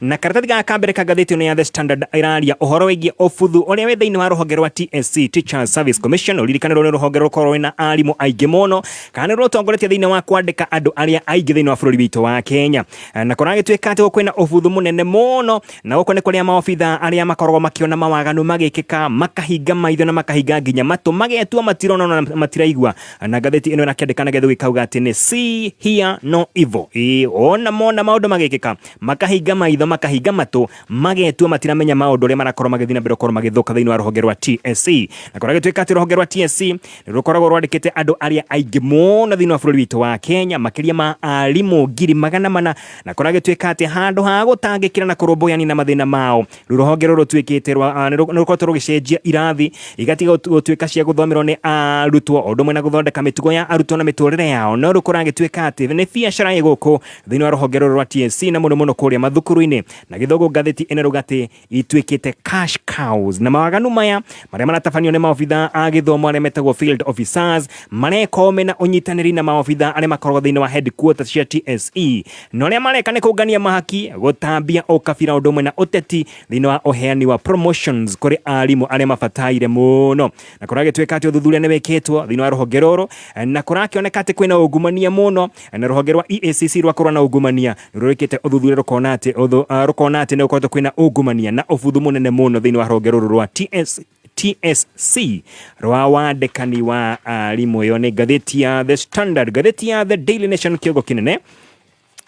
na karatathi gaka ka mbere ka ngathĩti ĩno ya The Standard ĩraria ũhoro wĩgiĩ ũbuthu ũrĩa wĩ thĩinĩ wa rũhonge rwa TSC Teachers Service Commission ũririkane rũrĩ rũhonge rũkorwo rwĩna arimũ aingĩ mũno kana nĩ rũtongoretie thĩinĩ wa kwandĩka andũ arĩa aingĩ thĩinĩ wa bũrũri witũ wa Kenya na kũragĩtuĩka atĩ gũkwĩna ũbuthu mũnene mũno na gũkũ nĩ kũrĩa maobitha arĩa makoragwo makĩona mawaganu magĩkĩka makahinga maitho na makahinga nginya matũ magetua matirona na matiraigua na ngathĩti ĩno ĩrakĩandĩka na getha gĩkauga atĩ nĩ see hear no evil Ĩĩ, ona mona maũndũ magĩkĩka Makahinga maitho, makahinga matũ, magetua matiramenya maũndũ ũrĩa marakorwo magĩthiĩ na mbere gũkorwo magĩthũka thĩinĩ wa rũhonge rwa TSC. Na kũrĩa gĩtuĩka atĩ rũhonge rwa TSC nĩ rũkoragwo rwandĩkĩte andũ arĩa aingĩ mũno thĩinĩ wa bũrũri witũ wa Kenya, makĩria ma arimũ ngiri magana mana, na kũrĩa gĩtuĩka atĩ handũ ha gũtangĩkĩra na kũrũmbũyania na mathĩna mao, rĩu rũhonge rũrũ rũtuĩkĩte rwa ah, nĩ rũ- nĩ rũkoretwo rũgĩcenjia irathi igatiga gũtu- gũtuĩka cia gũthomerwo nĩ arutwo o ũndũ ũmwe na gũthondeka mĩtugo ya arutwo na mĩtũrĩre yao, no rĩu kũragĩtuĩka atĩ nĩ biacara ĩ gũkũ thĩinĩ wa rũhonge rũrũ rwa TSC na mũno mũno kũrĩa mathukuru-inĩ na gĩthũngũ ngathĩti ĩna rũgatĩ ituĩkĩte cash cows na mawaganu maya marĩa maratabanio nĩ maobitha a gĩthomo arĩa metagwo field officers mareka ũme na ũnyitanĩri na maobitha arĩa makoragwo thĩinĩ wa headquarters cia TSE na ũrĩa mareka nĩ kũngania mahaki gũtambia ũkabira ũndũ ũmwe na ũteti thĩinĩ wa ũheani wa promotions kũrĩ arimũ arĩa mabataire mũno na kũragĩtuĩka atĩ ũthuthuria nĩ wĩkĩtwo thĩinĩ wa rũhonge rũrũ na kũrakĩoneka atĩ kwĩna ungumania mũno Na rũhonge rwa EACC rwa kũrũa na ungumania nĩrũrĩkĩte ũthuthuria rũkona atĩ ũthũ, ah, rũkona atĩ nĩgũkoretwo kwĩna ungumania na ũbuthu mũnene mũno thĩinĩ wa rũhonge rũrũ rwa TS TSC rwa wandĩkani wa arimũ. Ĩyo nĩ ngathĩti ya The Standard. Ngathĩti ya The Daily Nation kĩongo kĩnene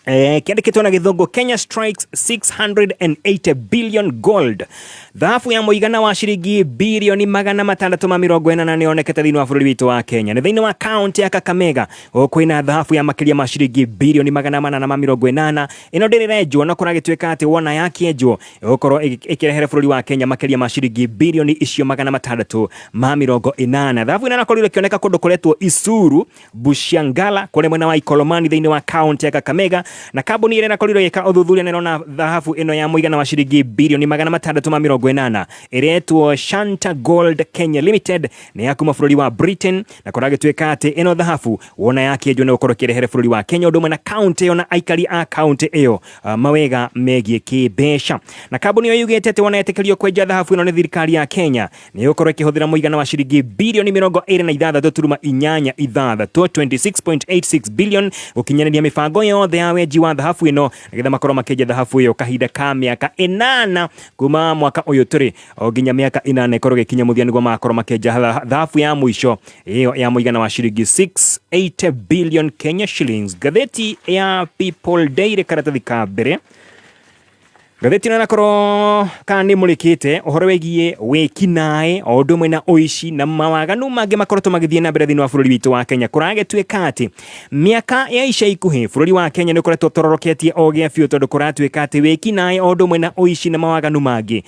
Eh, kiandĩkĩtwo na gĩthũngũ Kenya strikes 680 billion gold. Thahabu ya mũigana wa ciringi bilioni magana matandatũ ma mĩrongo ĩnana nĩyonekete thĩinĩ wa bũrũri witũ wa Kenya. Nĩ thĩinĩ wa kaunti ya Kakamega kwĩna thahabu ya makĩria ma ciringi birioni magana mana na ma mĩrongo ĩnana ĩno ndĩrĩrenjwo na kũragĩtuĩka atĩ wona yakĩenjwo ĩgũkorwo ĩkĩrehere bũrũri wa Kenya makĩria ma ciringi birioni icio magana matandatũ ma mĩrongo ĩnana thahabu ĩno nakorirwo ĩkĩoneka kũndũ kũretwo Isuru Bushangala kũrĩa mwena wa Ikolomani thĩinĩ wa kaunti ya Kakamega na kambuni ĩrĩa nakorirwo ĩgĩka ũthuthuria na ĩrona thahabu ĩno ya mũigana wa ciringi birioni magana matandatũ ma mĩrongo ĩnana ĩretwo Shanta Gold Kenya Limited nĩ ya kuma bũrũri wa Britain Na kũragĩtuĩka atĩ ĩno thahabu wona yakĩenjwo nĩ gũkorwo ĩkĩrehere bũrũri wa Kenya ũndũ ũmwe na kaunti ĩyo na aikari a kaunti ĩyo ah, mawega megiĩ kĩmbeca. Na kambuni ĩyo yugĩte atĩ wona yetĩkĩrio kwenja thahabu ĩno nĩ thirikari ya Kenya nĩ gũkorwo ĩkĩhũthĩra mũigana wa ciringi birioni mĩrongo ĩrĩ na ithathatũ turuma inyanya ithathatũ 26.86 billion gũkinyanĩria mĩbango yothe ya wenji wa thahabu ĩno nĩgetha makorwo makĩenja thahabu ĩyo kahinda ka mĩaka ĩnana kuma mwaka ũyũ tũrĩ o nginya mĩaka ĩnana ĩkorwo ĩgĩkinya mũthia nĩguo magakorwo makĩenja tha- thahabu ya mũico ĩyo ya mũigana wa ciringi 68 billion Kenya shillings. Ngathĩti ya People Daily karatathi ka mbere ngathĩti ĩno ĩnakorwo kana nĩ mũrĩkĩte ũhoro wĩgiĩ wĩkinaĩ o ũndũ ũmwe na ũici na mawaganu mangĩ makoretwo magĩthiĩ na mbere thĩinĩ wa bũrũri witũ wa kenya kũragĩtuĩka atĩ mĩaka ya ica ikuhĩ bũrũri wa kenya nĩ ũkoretwo ũtororoketie o gĩa biũ tondũ kũratuĩka atĩ wĩkinaĩ o ũndũ ũmwe na ũici na mawaganu mangĩ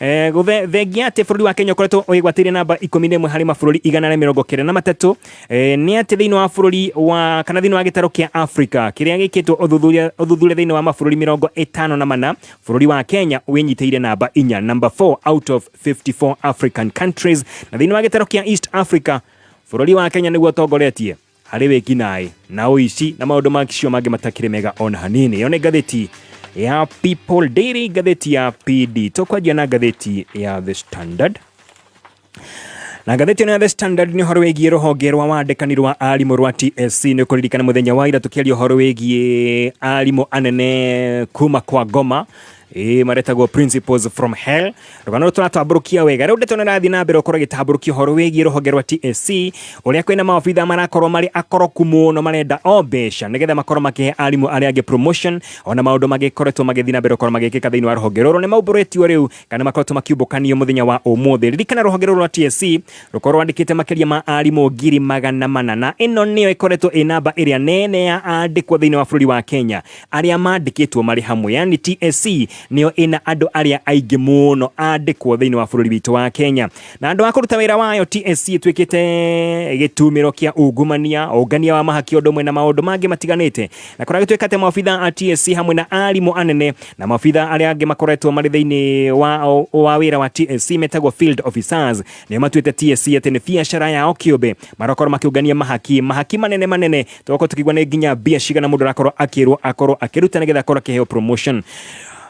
Eh, gũthe- thengia atĩ bũrũri wa kenya ũkoretwo ũgĩgwatĩire namba ikũmi na ĩmwe harĩ mabũrũri igana rĩa mĩrongo kenda na matatũ eh, nĩ atĩ thĩinĩ wa bũrũri wa kana thĩinĩ wa gĩtarũ kĩa africa kĩrĩa gĩkĩtwo ũthuthuria ũthuthuria thĩinĩ wa mabũrũri mĩrongo ĩtano na mana bũrũri wa kenya wĩnyitĩire namba inya number 4 out of 54 african countries na thĩinĩ wa gĩtarũ kĩa east africa bũrũri wa kenya nĩguo ũtongoretie harĩ wĩkinaĩ na ũici na maũndũ macio mangĩ matakĩrĩ mega ona hanini ĩyo nĩ ngathĩti ya people daily ngathĩti ya pd tũkwanjia na ngathĩti ya the standard na ngathĩti ĩno ya the standard nĩ ũhoro wĩgiĩ rũhonge rwa wandĩkani rwa arimũ rwa tsc nĩ kũririkana mũthenya wa ira tũkĩaria ũhoro wĩgiĩ arimũ anene kuma kwa ngoma Ĩĩ maretagwo principles from hell rũgano rũtũ ratambũrũkia wega rĩu ndeto nĩrathiĩ na mbere gũkorwo ĩgĩtambũrũkia ũhoro wĩgiĩ rũhonge rwa TSC ũrĩa kwĩna maobitha marakorwo marĩ akoroku mũno marenda o mbeca nĩgetha makorwo makĩhe arimũ arĩa angĩ promotion ona maũndũ magĩkoretwo magĩthiĩ na mbere gũkorwo magĩkĩka thĩinĩ wa rũhonge rũrũ nĩ maumbũrĩtio rĩu kana makoretwo makiumbũkanio mũthenya wa ũmũthĩ ririkana rũhonge rũrũ rwa TSC rũkorwo rwandĩkĩte makĩria ma arimũ ngiri magana mana na ĩno nĩyo ĩkoretwo ĩ namba ĩrĩa nene ya andĩkwo thĩinĩ wa bũrũri wa Kenya arĩa mandĩkĩtwo marĩ hamwe yani TSC nĩyo ĩna andũ arĩa aingĩ mũno andĩkwo thĩinĩ wa bũrũri witũ wa Kenya na andũ a kũruta wĩra wayo TSC ĩtuĩkĩte gĩtumĩro kĩa ungumania ũngania wa mahaki ũndũ ũmwe na maũndũ mangĩ matiganĩte na kũrĩa gĩtuĩka atĩ maobitha a TSC hamwe na arimũ anene na maobitha arĩa angĩ makoretwo marĩ thĩinĩ wa, wa wĩra wa TSC metagwo field officers nĩo matuĩte TSC atĩ nĩ biacara yao kĩũmbe marakorwo makĩũngania mahaki mahaki manene manene tũgakorwo tũkĩigua nĩ nginya mbia cigana mũndũ arakorwo akĩrwo akorwo akĩruta nĩgetha akorwo akĩheo promotion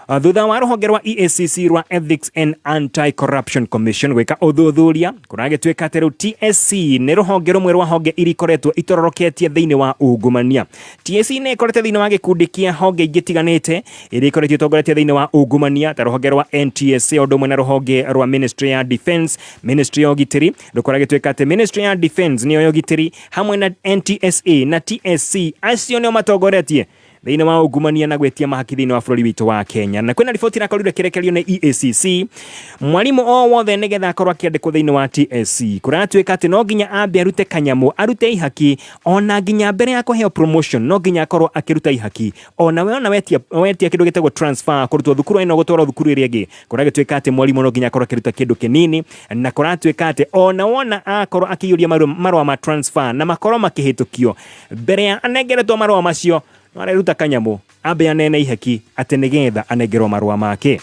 Uh, thutha wa rũhonge rwa EACC rwa Ethics and Anti-Corruption Commission gwĩka ũthuthuria kũragĩtuĩka atĩ rĩu TSC nĩ rũhonge rũmwe rwa honge iria ikoretwo itororoketie thĩinĩ wa ungumania TSC nĩ ĩkorete thĩinĩ wa gĩkundi kĩa honge ingĩ tiganĩte iria ikoretio itongoretie thĩinĩ wa ungumania ta rũhonge rwa NTSA ũndũ ũmwe na rũhonge rwa Ministry ya Defence Ministry ya ũgitĩri Rukora gituika ati Ministry ya Defence niyo yogitiri hamwe na NTSA na TSC acio nio matongoretie thĩinĩ wa ungumania na gwĩtia mahaki thĩinĩ wa bũrũri witũ wa Kenya na kwĩna riboti irakorire kĩrekerio nĩ EACC mwarimũ o wothe nĩgetha akorwo akĩandĩkwo thĩinĩ wa TSC kũratuĩka atĩ no nginya ambe arute kanyamũ arute ihaki ona nginya mbere ya kũheo promotion no nginya akorwo akĩruta ihaki ona we ona wetia, wetia kĩndũ gĩtagwo transfer kũrutwo thukuru ĩno gũtwarwo thukuru ĩrĩa ĩngĩ kũragĩtuĩka atĩ mwarimũ no nginya akorwo akĩruta kĩndũ kĩnini na kũratuĩka atĩ ona wona akorwo akĩiyũria marũ- marũa ma transfer na makorwo makĩhĩtũkio mbere ya anengeretwo marũa macio no areruta kanyamũ ambe anene ihaki atĩ nĩgetha anengerwo marũa make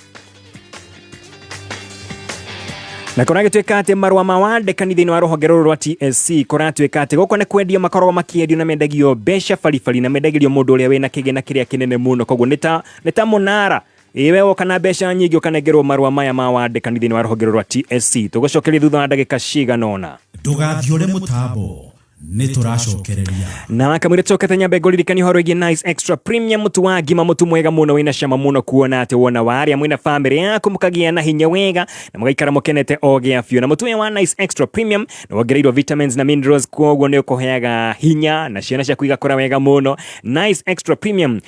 na kũragĩtuĩka atĩ marũa ma wandĩkani thĩinĩ wa rũhonge rũrũ rwa tsc kũratuĩka atĩ gũkũ nĩ kwendia makoragwo makĩendio na mendagio mbeca baribari na mendagĩrio mũndũ ũrĩa wĩna kĩgĩna kĩrĩa kĩnene mũno koguo nĩ ta nĩ ta mũnara Ĩĩ we woka na mbeca nyingĩ ũkanengerwo marũa maya ma wandĩkani thĩinĩ wa rũhonge rwa TSC. Tũgũcokerie thutha wa ndagĩka cigana ũna. Ndũgathiore mũtambo, nĩ tũracokereria. Na kamwĩrĩ tũkete nyambe ngũririkania ũhoro wĩgiĩ Nice Extra Premium mũtu wa ngima mũtu mwega mũno wĩna cama mũno kuona atĩ wona warĩa mwĩna famĩlĩ yaku mũkagĩa na hinya wega na mũgaikara mũkenete o gĩa biũ na mũtu ũyũ wa Nice Extra Premium nĩ wongereirwo vitamins na minerals kwoguo nĩ ũkũheaga hinya na ciana ciaku igakũra wega mũno Nice Extra Premium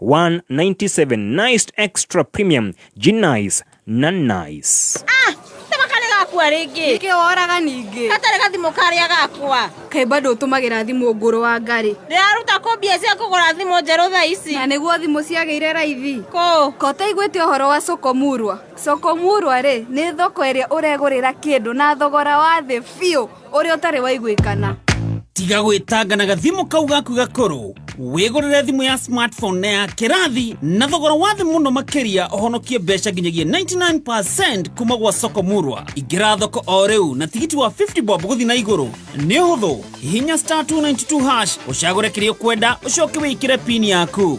197 nice extra premium genice na nice Ah, tama kale gakua rĩngĩ Nĩkĩ woraga ningĩ? gatarĩ gathimũ karĩa gakua Kaĩ bado ũtũmagĩra thimũ ngũrũ wa ngarĩ. ndĩraruta kũ mbia cia kũgũra thimũ njerũ thaa ici Na nĩguo thimũ ciagĩire raithi. kũ Ko ũtaiguĩte ũhoro wa Sokomurwa? Sokomurwa rĩ, nĩ thoko ĩrĩa ũregũrĩra kĩndũ na thogora wa thĩ biũ. ũrĩa ũtarĩ waiguĩkana tiga gwĩtanga na gathimũ kau gaku gakũrũ wĩgũrĩre thimũ ya smartphone na ya kĩrathi na thogora wa thĩ mũno makĩria ũhonokie mbeca nginyagia 99% kuma gwa soko murwa ingĩra thoko o rĩu na tigiti wa 50 bob gũthi na igũrũ nĩ ũhũthũ hihinya star 292 hash ũcagũre kĩrĩa ũkwenda ũcoke wĩkĩre pini yaku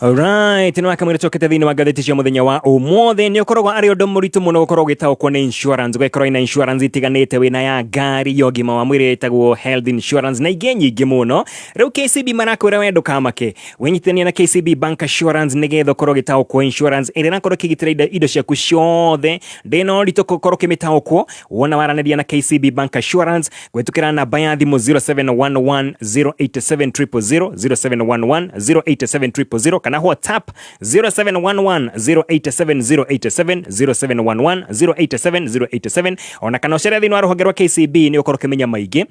Alright, no akamwira cokete thiini wa ngatheti cia muthenya wa umuthi ni ukoragwo ari undu muritu muno gukorwo ugitaukwo ni insurance ugekorwo ina insurance itiganite wina ya ngari ya ugima wa mwiri itagwo health insurance na ingi nyingi muno riu KCB marakwira we ndukamake winyitithania na KCB bank assurance nigetha ukorwo ugitaukwo insurance iri nakorwo ikigitira indo- indo ciaku ciothe ndina uritu gukorwo ukimitaukwo wona waraniria na KCB bank assurance gwĩtũkĩra namba ya thimũ 0711087000 0711087000 kana whatsapp 0711087087 0711087087 ona kana ũcere thĩinĩ wa rũhonge rwa kcb nĩ ũkorwo ũkĩmenya maingĩ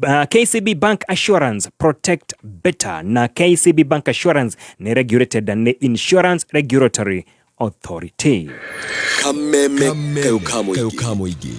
uh, kcb bank assurance protect better na kcb bank assurance nĩ regulated na nĩ insurance regulatory Authority. kameme kau ka mũingĩ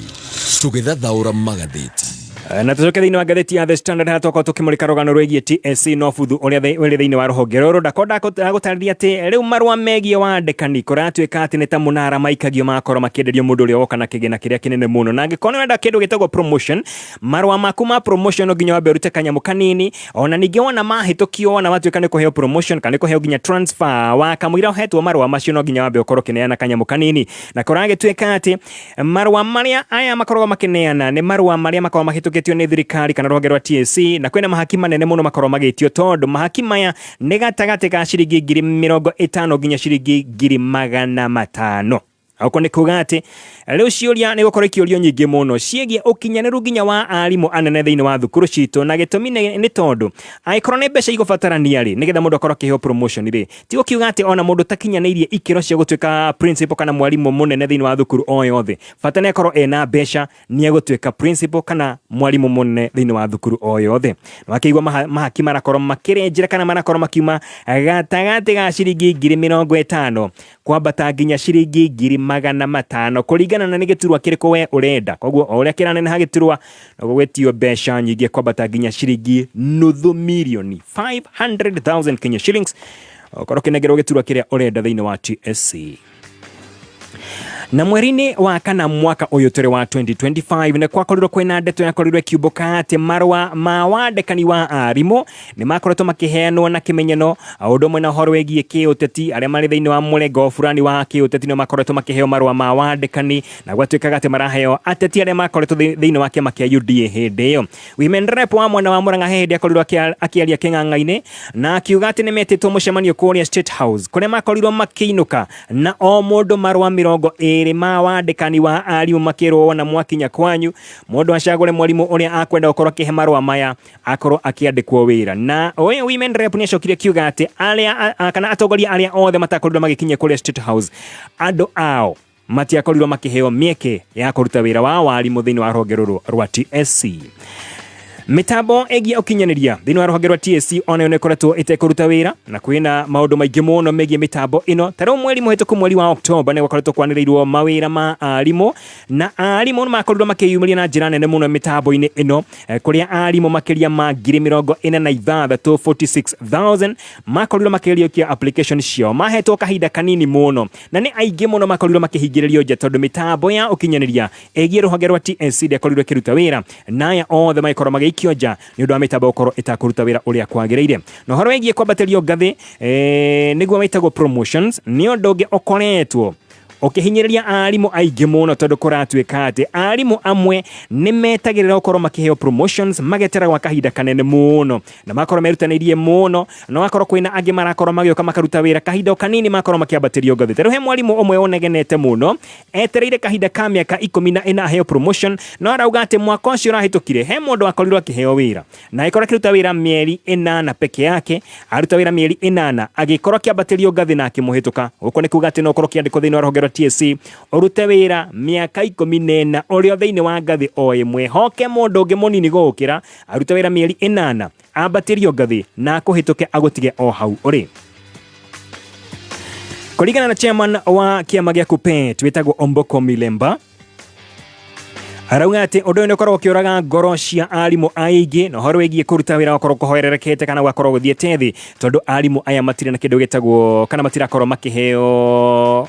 tũgĩthathaũra magathĩti Eh, na tũcoke thĩinĩ wa ngathĩti ya the standard harĩa twakorwo tũkĩmũrĩka rũgano rwĩgiĩ tsc no buthu ũrĩa thĩ- ũrĩ thĩinĩ wa rũhonge rũrũ ndako ndagũtarĩria atĩ rĩu marũa megiĩ wandĩkani kũratuĩka atĩ nĩ ta mũnara maikagio magakorwo makĩenderio mũndũ ũrĩa woka na kĩgĩna kĩrĩa kĩnene mũno na angĩkorwo nĩ wenda kĩndũ gĩtagwo promotion marũa maku ma promotion no nginya wambe ũrute kanyamũ kanini ona ningĩ wona mahĩtũkio wona watuĩka nĩ kũheo promotion kana nĩ kũheo nginya transfer wa kamũira ũhetwo marũa macio no nginya wambe ũkorwo ũkĩneana kanyamũ kanini na kũragĩtuĩka atĩ marũa marĩa aya makoragwo makĩneana nĩ marũa marĩa makoragwo mahĩtũkĩtio nĩ thirikari kana rũhonge rwa TSC na kwĩna mahaki manene mũno makoragwo magĩtio tondũ mahaki maya nĩ gatagatĩ ga ciringi ngiri mĩrongo ĩtano nginya ciringi ngiri magana matano Oko nĩ kuga atĩ rĩu ciũria nĩ gũkorwo ikĩũrio nyingĩ mũno ciĩgiĩ ũkinyanĩru nginya wa arimũ anene thĩinĩ wa thukuru citũ, na gĩtũmi nĩ nĩ tondũ angĩkorwo nĩ mbeca igũbatarania rĩ, nĩgetha mũndũ akorwo akĩheo promotion rĩ, ti gũkiuga atĩ ona mũndũ ũtakinyanĩirie ikĩro cia gũtuĩka principal kana mwarimũ mũnene thĩinĩ wa thukuru o yothe, bata nĩ akorwo ena mbeca nĩ egũtuĩka principal kana mwarimũ mũnene thĩinĩ wa thukuru o yothe wakĩigua maha- mahaki marakorwo makĩrenjera kana marakorwo makiuma gatagatĩ ga ciringi ngiri mĩrongo ĩtano kwambata nginya ciringi ngiri magana matano kũringana na nĩ gĩturwa kĩrĩkũ we ũrenda koguo o ũrĩa kĩraneneha gĩturwa noguo gwĩtio mbeca nyingĩ kwambata nginya ciringi nuthu mirioni 500,000 Kenya shillings okorwo kĩnengerwo gĩturwa kĩrĩa ũrenda thĩinĩ wa TSC na mweri-inä wa kana mwaka å yå tå rä wa 2025 nä kwakorirwo kwä na ndeto yakorirwo ĩkiumbå ka atä marũa ma wandĩkani wa arimũ nä makoretwo makĩheanwo na kĩmenyano å ndå ũmwe na horo wĩgiĩ kä å teti arĩa marĩ thĩinĩ wa mũrengo burani wa kä å teti nä makoretwo makĩheo marũa ma wandĩkani na gwatuĩkaga atä maraheo ateti arĩa makoretwo thĩ- thĩinĩ wa kĩama kĩa UDA hĩndĩ ĩyo Women rep wa mwena wa Murang'a he hindi akorirwo akiaria king'ang'a-inĩ na akiuga atĩ nĩ metĩtwo mũcemanio kũrĩa State House kũrĩa makorirwo makĩinũka na o mũndũ marũa mĩrongo ĩrĩ ma wandĩkani wa arimũ makĩrwo wona mwakinya kwanyu mũndũ acagũre mwarimũ ũrĩa akwenda gũkorwo akĩhe marũa maya akorwo akĩandĩkwo wĩra na ũyũ women rep nĩ acokire akiuga atĩ arĩa kana atongoria arĩa othe matakorirwo magĩkinya kũrĩa State House andũ ao matiakorirwo makĩheo mĩeke ya kũruta wĩra wa warimũ thĩinĩ wa rũhonge rũrũ rwa TSC mitambo ĩgiĩ ũkinyanĩria thĩinĩ wa rũhonge rwa TSC onayo nĩ ĩkoretwo ĩtekũruta wĩra na kwĩna maũndũ maingĩ mũno megiĩ mĩtambo ĩno tarĩu mweri mũhĩtũku mweri wa Oktoba nĩ gwakoretwo kwanĩrĩirwo mawĩra ma arimũ na arimũ nĩ makorirwo makĩyumĩria na njĩra nene mũno mĩtambo-inĩ ĩno eh, kũrĩa arimũ makĩria ma ngiri mĩrongo ĩna na ithathatũ 46000 makorirwo makĩriũkia application ciao mahetwo kahinda kanini mũno na nĩ aingĩ mũno makorirwo makĩhingĩrĩrio nja tondũ mĩtambo ya ũkinyanĩria ĩgiĩ rũhonge rwa TSC ndĩakorirwo ĩkĩruta wĩra na aya othe magĩkorwo magĩikio nja nĩ ũndũ wa mĩtambo gũkorwo ĩtakũruta wĩra ũrĩa kwagĩrĩire na ũhoro wĩgiĩ kwambatĩrio ngathĩ eh, nĩguo wĩtagwo promotions nĩ ũndũ ũngĩ ũkoretwo ũkĩhinyĩrĩria arimũ aingĩ mũno tondũ kũratuĩka atĩ arimũ amwe nĩ metagĩrĩra gũkorwo makĩheo promotions magetera gwa kahinda kanene mũno na makorwo merutanĩirie mũno no akorwo kwĩna angĩ marakorwo magĩũka makaruta wĩra kahinda o kanini makorwo makĩambatĩrio ngathĩ tarĩu he mwarimũ ũmwe ũnegenete mũno etereire kahinda ka mĩaka ikũmi na ĩna aheo promotion no arauga atĩ mwaka ũcio ũrahĩtũkire he mũndũ wakorirwo akĩheo wĩra na agĩkorwo akĩruta wĩra mĩeri ĩnana peke yake aruta wĩra mĩeri ĩnana agĩkorwo akĩambatĩrio ngathĩ na akĩmũhĩtũka gũkũ nĩ kuga atĩ no ũkorwo ũkĩandĩkwo thĩinĩ wa rũhonge rwa TSC ũrute wĩra mĩaka ikũmi na ĩna ũrĩ o thĩinĩ wa ngathĩ o ĩmwe hoke mũndũ ũngĩ mũnini gũgũkĩra aruta wĩra mĩeri ĩnana ambatĩrio ngathĩ na akũhĩtũke agũtige o hau ũrĩ kũringana na chairman wa kĩama gĩa kupet wĩtagwo omboko milemba arauga atĩ ũndũ ũyũ nĩ ũkoragwo ũkĩũraga ngoro cia arimũ aingĩ na ũhoro wĩgiĩ kũruta wĩra gũkorwo kũhoererekete kana gũgakorwo gũthiĩte thĩ tondũ arimũ aya matirĩ na kĩndũ gĩtagwo kana matirakorwo makĩheo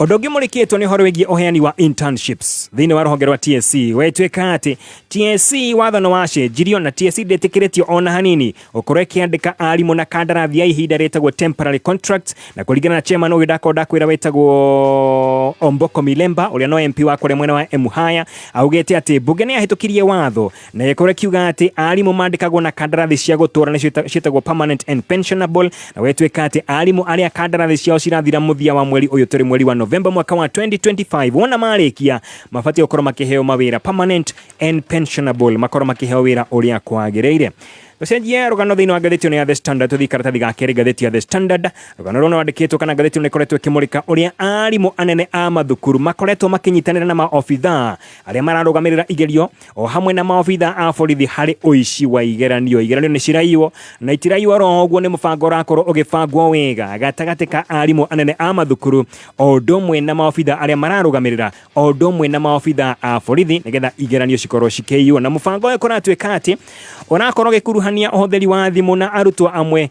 Ũndũ ũngĩ mũrĩkĩtwo nĩ ũhoro wĩgiĩ ũheani wa internships thĩinĩ wa rũhonge rwa TSC wetwĩka atĩ TSC watho nĩ wacenjirio na TSC ndĩtĩkĩrĩtio ona hanini gũkorwo ĩkĩandĩka arimũ na kandarathi ya ihinda rĩtagwo temporary contract na kũringana na chairman ũyũ ndakorwo ndakwĩra wetagwo Omboko Milemba ũrĩa no MP wa kũrĩa mwena wa Emuhaya augĩte atĩ mbunge nĩ yahĩtũkirie watho na gĩkorwo kiuga atĩ arimũ mandĩkagwo na kandarathi cia gũtũra nĩcio ita- ciĩtagwo permanent and pensionable na gwĩtuĩka atĩ arimũ arĩa kandarathi ciao cirathira mũthia wa mweri ũyũ tũrĩ mweri wa novemba mwaka wa 2025 wona marĩkia mabatiĩ gũkorwo makĩheo mawĩra permanent and pensionable makorwo makĩheo wĩra ũrĩa kwagĩrĩire tũcenjie rũgano thĩinĩ wa ngathĩti ĩno ya the standard tũthiĩ karatathi ga kerĩ ngathĩti ya the standard rũgano rũna rwandĩkĩtwo kana ngathĩti ĩno ĩkoretwo ĩkĩmũrĩka ũrĩa arimũ anene a mathukuru makoretwo makĩnyitanĩra na maobithaa arĩa mararũgamĩrĩra igerio o hamwe na maobitha a borithi harĩ ũici wa igeranio igeranio nĩ ciraiywo na itiraiywo ro ũguo nĩ mũbango ũrakorwo ũgĩbangwo wega gatagatĩ ka arimũ anene a mathukuru o ũndũ ũmwe na maobitha arĩa mararũgamĩrĩra o ũndũ ũmwe na maobitha a borithi nĩgetha igeranio cikorwo cikĩiywo na mũbango ũyũ kũratuĩka atĩ ũrakorwo ũgĩkuruhania ũhũthĩri wa thimũ na arutwo amwe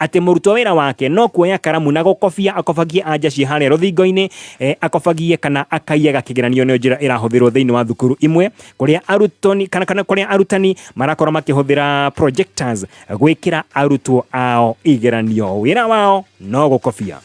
atĩ mũrutwo wĩra wake no kuoya karamu na gũkobia akobagie anja ciĩ harĩa rũthingo-inĩ eh, akobagie kana akaiyaga kĩgeranio nĩ njĩra ĩrahũthĩrwo thĩinĩ wa thukuru imwe kũrĩa arutani kana kana kũrĩa arutani marakorwo makĩhũthĩra projectors gwĩkĩra arutwo ao igeranio wĩra wao no gũkobia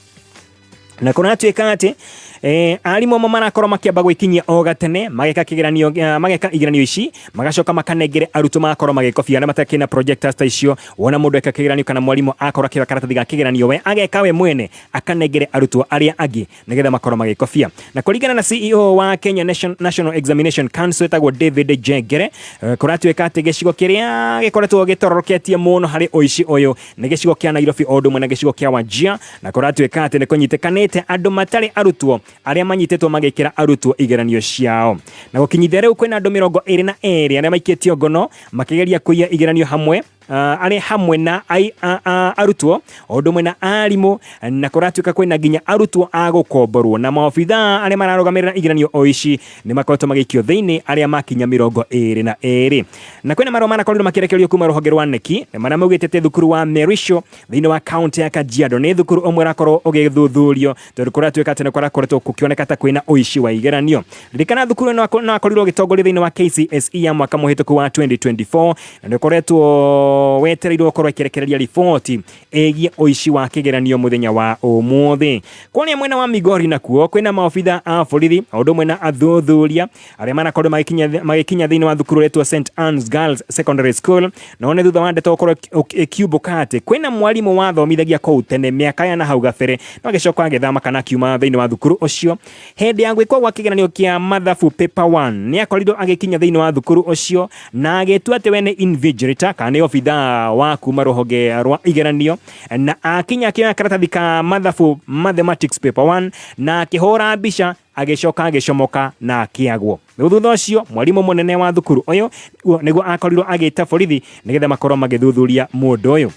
na kå ratuä atä Eh, arimũ amwe marakorwo makĩamba gwĩkinyia o gatene mageka kĩgeranio eh, mageka igeranio ici magacoka makanengere arutwo magakorwo magĩkobia arĩa matakĩ na projectors ta icio wona mũndũ eka kĩgeranio kana mwarimũ akorwo akĩoya karatathi ga kĩgeranio we ageka we mwene akanengere arutwo arĩa angĩ nĩgetha makorwo magĩkobia na kũringana na CEO wa Kenya Nation- National Examination Council etagwo David Jengere eh, kũratuĩka atĩ gĩcigo kĩrĩa gĩkoretwo gĩtororoketie mũno harĩ ũici ũyũ nĩ gĩcigo kĩa Nairobi o ũndũ ũmwe na gĩcigo kĩa Wajir na kũratuĩka atĩ nĩ kũnyitĩkanĩte andũ matarĩ arutwo arĩa manyitĩtwo magĩkĩra arutwo igeranio ciao na gũkinyithia rĩu kwĩna andũ mĩrongo ĩrĩ na erĩ arĩa maikĩtio ngono makĩgeria kũiya igeranio hamwe uh, arĩ hamwe na ai, a, a, arutwo o ũndũ ũmwe na arimũ na kũratuĩka kwĩna nginya arutwo a gũkomborwo na maobithaa arĩa mararũgamĩrĩra igeranio o ici nĩ makoretwo magĩikio thĩinĩ arĩa makinya mĩrongo ĩrĩ na ĩrĩ na kwĩna marũa manakorirwo makĩrekererio kuma rũhonge rwa neki nĩ marĩa maugĩte atĩ thukuru wa Merisho thĩinĩ wa kaunti ya Kajiado nĩ thukuru ũmwe ũrakorwo ũgĩthuthurio tondũ kũratuĩka atĩ nĩ kũrakoretwo gũkĩoneka ta kwĩna ũici wa igeranio ririkana thukuru ĩno ako- no akorirwo ũgĩtongoria thĩinĩ wa KCSE ya mwaka mũhĩtũku wa 2024 na nĩ ũkoretwo wetereirwo gũkorwo ĩkĩrekereria riboti ĩgiĩ ũici wa kĩgeranio mũthenya wa ũmũthĩ kũrĩa mwena wa migori nakuo kwĩna maobitha a borithi o ũndũ ũmwe na athuthuria arĩa marakorwo magĩkinya magĩkinya thĩinĩ wa thukuru ũretwo st annes girls secondary school no nĩ thutha wa ndeto gũkorwo ĩki- ĩkiumbũka atĩ kwĩna mwarimũ wathomithagia kũu tene mĩaka ya na hau gabere no agĩcoka agĩthama kana akiuma thĩinĩ wa thukuru ũcio hĩndĩ ya gwĩkwo gwa kĩgeranio kĩa mathabu paper one nĩ akorirwo agĩkinya thĩinĩ wa thukuru ũcio na agĩtua atĩ we nĩ invigilator kana nĩ obitha wa kuma rũhonge rwa igeranio na akinya akĩoya karatathi ka mathabu mathematics paper 1 na akĩhũra mbica agĩcoka agĩcomoka na akĩagwo rĩu thutha ũcio mwarimũ mũnene wa thukuru ũyũ nĩguo akorirwo agĩta borithi nĩgetha makorwo magĩthuthuria mũndũ ũyũ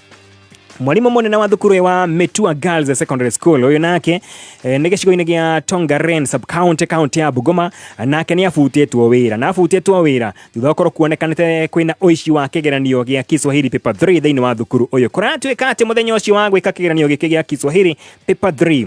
mwarimå må nene wa thukuru wa Metua Girls Secondary School uyu nake eh, nä gä cigo-inä gä a Tongaren sub county county ya Bungoma nake nä abutĩtwo wä ra na abutĩtwo wä ra thutha wa korwo kuonekanĩte kwä na ũici wa kĩgeranio gĩa Kiswahili paper 3 thĩinĩ wa thukuru ũyũ kũratuĩka atĩ mũthenya ũcio wa gwĩka kĩgeranio gĩkĩ gĩa Kiswahili paper 3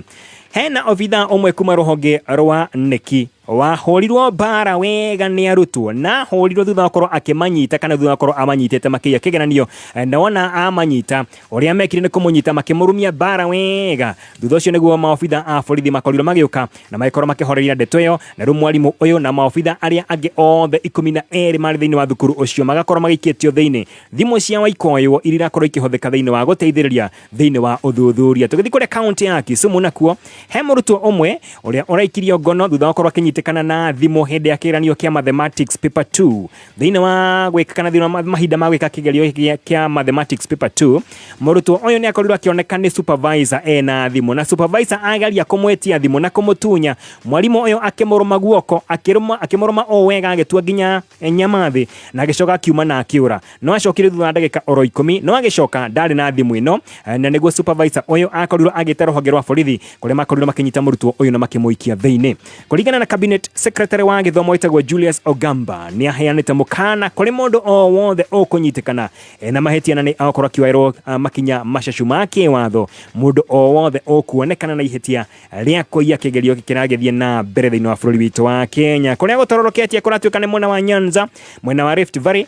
hena obitha ũmwe kuma rũhonge rwa neki wahũrirwo mbara wega nĩ arutwo na hũrirwo thutha wa korwo akĩmanyita kana thutha wa korwo amanyitĩte makĩiya kĩgeranio Eh, na wona amanyita ũrĩa mekire nĩ kũmũnyita makĩmũrumia mbara wega thutha ũcio nĩguo maobitha a borithi makorirwo magĩũka na magĩkorwo makĩhoreria ndeto ĩyo na rĩu mwarimũ ũyũ na maobitha arĩa angĩ othe ikũmi na erĩ marĩ thĩinĩ wa thukuru ũcio magakorwo magĩikĩtio thĩinĩ thimũ cia waikoywo iria irakorwo ikĩhũthĩka thĩinĩ wa gũteithĩrĩria thĩinĩ wa ũthuthuria tũgĩthiĩ kũrĩa kaunti ya Kisumu nakuo he mũrutwo ũmwe ũrĩa ũraikirio ngono thutha wa gũkorwo akĩnyitĩkana na thimũ hĩndĩ ya kĩgeranio kĩa mathematics paper 2 thĩinĩ wa gwĩka kana thĩinĩ wa ma- mahinda ma gwĩka kĩgerio gĩa- kĩa mathematics paper 2 mũrutwo ũyũ nĩ akorirwo akĩoneka nĩ supervisor ena thimũ na supervisor ageria kũmwetia thimũ na kũmũtunya mwarimũ ũyũ akĩmũrũma guoko akĩrũma- akĩmũrũma o wega agĩtua nginya nyama thĩ na agĩcoka akiuma na akĩũra no acokire thutha wa ndagĩka oro ikũmi no agĩcoka ndarĩ na thimũ ĩno eh, na nĩguo supervisor ũyũ akorirwo agĩte rũhonge rwa borithi kũrĩa makorirwo makĩnyita mũrutwo ũyũ na makĩmũikia thĩinĩ kũringana na cabinet secretary wa gĩthomo wĩtagwo Julius Ogamba nĩ aheanĩte mũkana kũrĩ mũndũ o wothe ũkũnyitĩkana eh, na mahĩtia na nĩ akorwo akĩoerwo ah, makinya macacu ma kĩwatho mũndũ o wothe ũkuonekana na ihĩtia rĩa kũiya kĩgerio kĩragĩthiĩ na mbere thĩinĩ wa bũrũri witũ wa Kenya kũrĩa gũtororoketie kũratuĩka nĩ mwena wa Nyanza mwena wa Rift Valley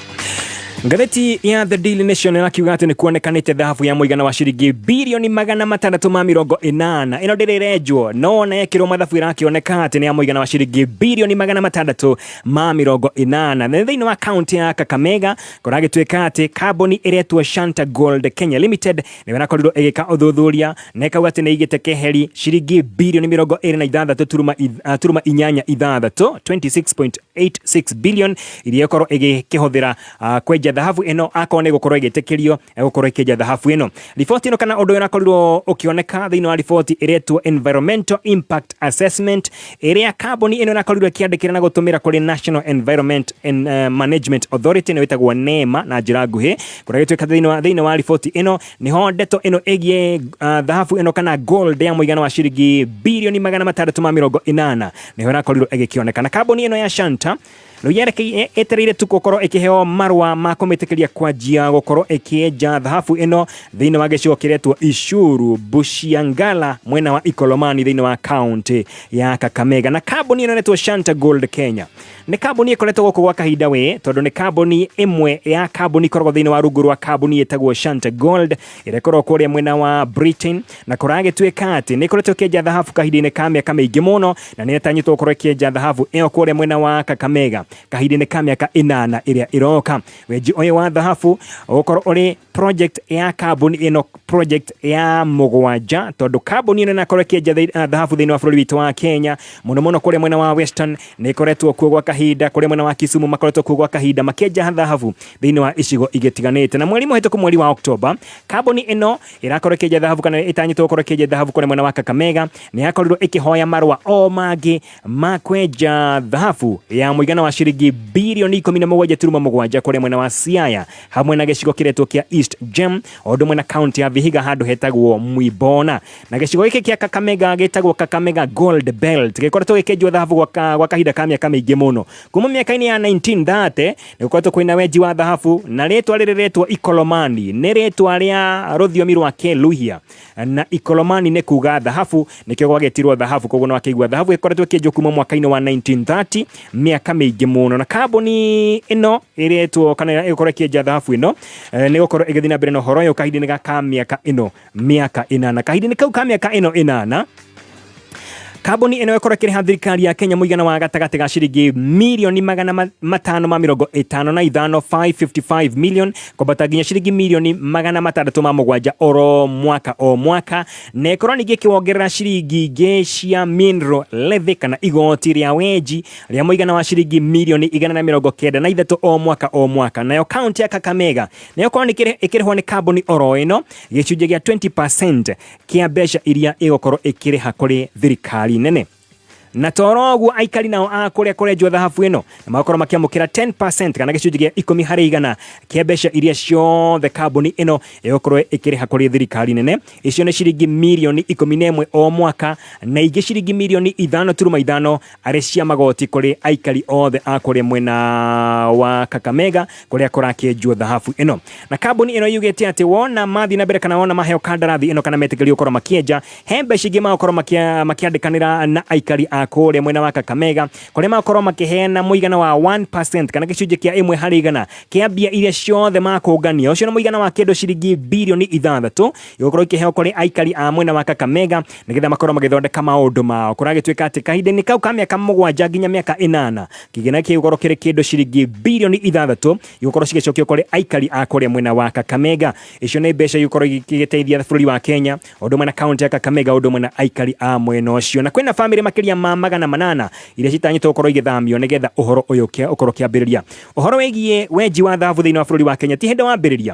Ngathĩti ya The Daily Nation ĩrakiuga atĩ nĩ kuonekanĩte thahabu ya mũigana wa ciringi birioni magana matandatũ ma mĩrongo ĩnana ĩno ndĩrĩrenjwo no ona yekĩrwo mathabu ĩrakĩoneka atĩ nĩ ya mũigana wa ciringi birioni magana matandatũ ma mĩrongo ĩnana na nĩ thĩinĩ wa kaunti ya Kakamega kũragĩtuĩka atĩ kambuni ĩretwo Shanta Gold Kenya Limited nĩyo ĩrakorirwo ĩgĩka ũthuthuria na ĩkauga atĩ nĩ igĩte keheri ciringi birioni mĩrongo ĩrĩ na ithathatũ turuma ith- ah, turuma inyanya ithathatũ 26.8 86 billion iria ĩkorwo ĩgĩkĩhũthĩra uh, kwenja thahabu ĩno akorwo nĩ gũkorwo ĩgĩtĩkĩrio eh, gũkorwo ĩkĩenja thahabu ĩno riboti ĩno kana ũndũ ũyũ ũrakorirwo ũkĩoneka thĩinĩ wa riboti ĩretwo environmental impact assessment ĩrĩa kambuni ĩno ĩrakorirwo ĩkĩandĩkĩra na gũtũmĩra kũrĩ national environment and, uh, management authority nĩ wĩtagwo nema na njĩra nguhĩ kũrĩa gĩtuĩka thĩinĩ wa- thĩinĩ wa riboti ĩno nĩho ndeto ĩno ĩgiĩ uh, thahabu ĩno kana gold ya mũigana wa ciringi birioni magana matandatũ ma mĩrongo ĩnana nĩho ĩrakorirwo ĩgĩkĩoneka na kambuni ĩno ya Shanta rĩu yerekeire ĩtereire tu gũkorwo ĩkĩheo marũa ma kũmĩtĩkĩria kwanjia gũkorwo ĩkĩenja thahabu ĩno thĩinĩ wa gĩcigo kĩretwo Icuru Bushiangala mwena wa Ikolomani thĩinĩ wa kaunti ya Kakamega na kambuni ĩno ĩretwo Shanta Gold Kenya nĩ kambuni ĩkoretwo gũkũ gwa kahinda wĩ tondũ nĩ kambuni ĩmwe ya kambuni ikoragwo thĩinĩ wa rungu rwa kambuni ĩtagwo Shanta Gold ĩrekorwo kũrĩa mwena wa Britain na kũragĩtuĩka atĩ nĩ koretwo kĩenja thahabu kahinda-inĩ ka mĩaka mĩingĩ mũno na nĩ ĩratanyĩtwo gũkorwo ĩkĩenja thahabu ĩyo kũrĩa mwena wa Kakamega kahinda-inĩ ka mĩaka ĩnana ĩrĩa ĩroka. Wenji ũyũ wa thahabu ũgũkorwo ũrĩ project ya kambuni ĩno project ya mũgwanja tondũ kambuni ĩno ĩnakorwo ĩkĩenja thĩ- ah, thahabu thĩinĩ wa bũrũri witũ wa Kenya mũno mũno kũrĩa mwena wa Western nĩ ĩkoretwo kuo gwa kahinda kũrĩa mwena wa Kisumu makoretwo kuo gwa kahinda makĩenja thahabu thĩinĩ wa icigo igĩtiganĩte na mweri mũhĩtũku mweri wa Oktoba kambuni ĩno ĩrakorwo ĩkĩenja thahabu kana ĩtanyĩtwo gũkorwo ĩkĩenja thahabu kũrĩa mwena wa Kakamega nĩ yakorirwo ĩkĩhoya marũa o mangĩ ma kwenja thahabu ya mũigana wa ciringi birioni ikũmi na mũgwanja turuma mũgwanja kũrĩa mwena wa Siaya hamwe na gĩcigo kĩretwo kĩa East Gem o ũndũ ũmwe na kaunti ya Vihiga handũ hetagwo Mwibona na gĩcigo gĩkĩ kĩa Kakamega gĩtagwo Kakamega Gold Belt gĩkoretwo gĩkĩenjwo thahabu gwa ka- gwa kahinda ka mĩaka mĩingĩ mũno kuma mĩaka-inĩ ya 1930 nĩgũkoretwo kwĩna wenji wa thahabu na rĩtwa rĩrĩ rĩtwa ikolomani nĩ rĩtwa rĩa rũthiomi rwa kĩluhia na ikolomani nĩ kuga thahabu nĩkĩo gwagĩtirwo thahabu koguo no akĩigua thahabu ĩkoretwo ĩkĩenjwo kuma mwaka-inĩ wa 1930 mĩaka mĩingĩ mũno na kambuni ĩno ĩrĩtwo kana ĩgũkorwo ĩkĩenja thahabu ĩno eh, nĩ gũkorwo ĩgĩthiĩ na mbere na ũhoro ũyũ kahinda-inĩ gaka mĩaka ĩno mĩaka ĩnana kahinda-inĩ kau ka mĩaka ĩno ĩnana kambuni ĩno ĩkorwo ĩkĩrĩha thirikari ya kenya mũigana wa gatagatĩ ga ciringi mirioni magana ma- matano ma mĩrongo ĩtano na ithano 555 million kwambata nginya ciringi mirioni magana matandatũ ma mũgwanja oro mwaka o mwaka na ĩkorwo ningĩ ĩkĩwongerera ciringi ingĩ cia mineral levy kana igoti rĩa wenji rĩa mũigana wa ciringi mirioni igana na mĩrongo kenda na ithatũ o mwaka o mwaka nayo kaunti ya kakamega nayo korwo nĩ kĩrĩ- ĩkĩrĩhwo nĩ kambuni oro ĩno gĩcunjĩ gĩa 20% kĩa mbeca iria ĩgũkorwo ĩkĩrĩha kũrĩ thirikari nene na toro ũguo aikari nao a kũrĩa kũrenjwo thahabu ĩno nĩ magakorwo makĩamũkĩra 10% kana gĩcunjĩ gĩa ikũmi harĩ igana kĩa mbeca iria ciothe kambuni ĩno ĩgũkorwo ĩkĩrĩha kũrĩ thirikari nene icio nĩ ciringi mirioni ikũmi na ĩmwe o mwaka na ingĩ ciringi mirioni ithano turuma ithano arĩ cia magoti kũrĩ aikari othe a kũrĩa mwena wa Kakamega kũrĩa kũrakĩenjwo thahabu ĩno. Na kambuni ĩno yugĩte atĩ wona mathiĩ na mbere kana wona maheo kandarathi ĩno kana metĩkĩrio gũkorwo makĩenja, he mbeca ingĩ magakorwo makia- makĩandĩkanĩra na aikari a kũrĩa mwena wa Kakamega kũrĩa magakorwo makĩheana mũigana wa 1% kana gĩcunjĩ kĩa ĩmwe harĩ igana kĩa mbia iria ciothe makũngania. Ũcio nĩ mũigana wa kĩndũ ciringi birioni ithathatũ gĩgũkorwo ikĩheo kũrĩ aikari a mwena wa Kakamega nĩgetha makorwo magĩthondeka maũndũ mao kũragĩtuĩka atĩ kahinda-inĩ kau ka mĩaka mũgwanja nginya mĩaka ĩnana kĩgĩna kĩgũkorwo kĩrĩ kĩndũ ciringi birioni ithathatũ igũkorwo cigĩcokio kũrĩ aikari a kũrĩa mwena wa Kakamega icio nĩ mbeca igũkorwo igĩteithia bũrũri wa Kenya ũndũ ũmwe na kaunti ya Kakamega ũndũ ũmwe na aikari a mwena ũcio na kwĩna bamĩrĩ makĩria ma magana manana iria citanyĩtwo gũkorwo igĩthamio nĩgetha ũhoro ũyũ ũkorwo ũkĩambĩrĩria ũhoro wĩgiĩ wenji wa thahabu thĩinĩ wa bũrũri wa Kenya ti hĩndĩ wambĩrĩria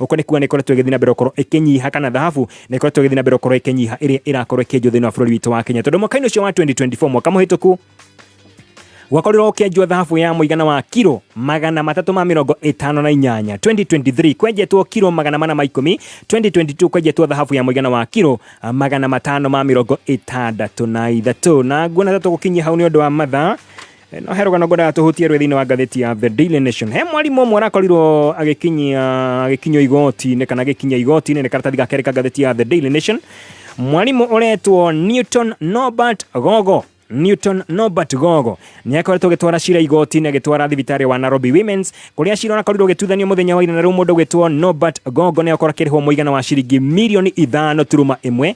Ũko nĩ kuga nĩ ĩkoretwo ĩgĩthiĩ na mbere gũkorwo ĩkĩnyiha kana thahabu nĩ ĩkoretwo ĩgĩthiĩ na mbere gũkorwo ĩkĩnyiha ĩrĩa ĩrakorwo ĩkĩenjwo thĩinĩ wa bũrũri witũ wa Kenya tondũ mwaka-inĩ ũcio wa 2024 mwaka mũhĩtũku gwakorirwo ũkĩenjwo thahabu ya mũigana wa kiro magana matatũ ma mĩrongo ĩtano na inyanya 2023 kwenjetwo kiro magana mana ma ikũmi 2022 kwenjetwo thahabu ya mũigana wa kiro ah, magana matano ma mĩrongo ĩtandatũ na ithatũ na nguona ta tũgũkinyia hau nĩ ũndũ wa mathaa No he rũgano ngwendaga tũhutie rwĩ thĩinĩ wa ngathĩti ya The Daily Nation. He mwarimũ ũmwe arakorirwo agĩkinyia agĩkinyio igoti-inĩ kana agĩkinyia igoti-inĩ nĩ karatathi ga kerĩ ka ngathĩti ya The Daily Nation. Mwarimũ ũretwo Newton Norbert Gogo Newton Norbert Gogo nĩ akoretwo agĩtwara cira igoti-inĩ agĩtwara thibitarĩ wa Nairobi Women's kũrĩa cira ũrakorirwo ũgĩtuithanio mũthenya wa ira na rĩu mũndũ ũgĩtwo Norbert Gogo nĩ akorwo akĩrĩhwo mũigana wa ciringi mirioni ithano turuma ĩmwe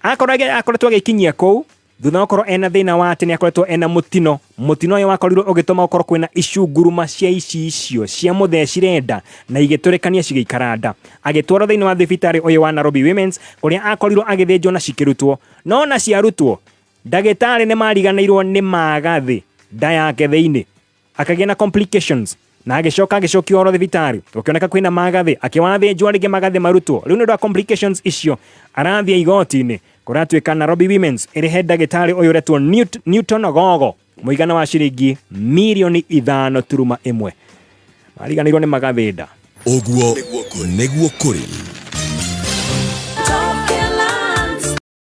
akorwo- akoretwo agĩkinyia kũu Thutha wa gũkorwo ena thĩna wa atĩ nĩ akoretwo ena mũtino, mũtino ũyũ wakorirwo ũgĩtũma gũkorwo kwĩna icunguruma cia ici icio cia mũthecire nda na igĩtũrĩkania cigĩikara nda. Agĩtwarwo thĩinĩ wa thibitarĩ ũyũ wa Nairobi Women's kũrĩa akorirwo agĩthĩnjwo na cikĩrutwo. No ona ciarutwo, ndagĩtarĩ nĩ mariganĩirwo nĩ magathĩ nda yake thĩinĩ. akagĩa na complications na agĩcoka agĩcokio oro thibitarĩ gũkĩoneka kwĩna magathĩ akĩwa athĩnjwo rĩngĩ magathĩ marutwo rĩu nĩ ũndũ wa complications icio arathiĩ igoti-inĩ kũratuĩka Nairobi Women's ĩrĩhe ndagĩtarĩ ũyũ ũretwo Newt- Newton Gogo mũigana wa ciringi mirioni ithano turuma ĩmwe mariganĩirwo nĩ magathĩnda ũguo nĩguo kũrĩ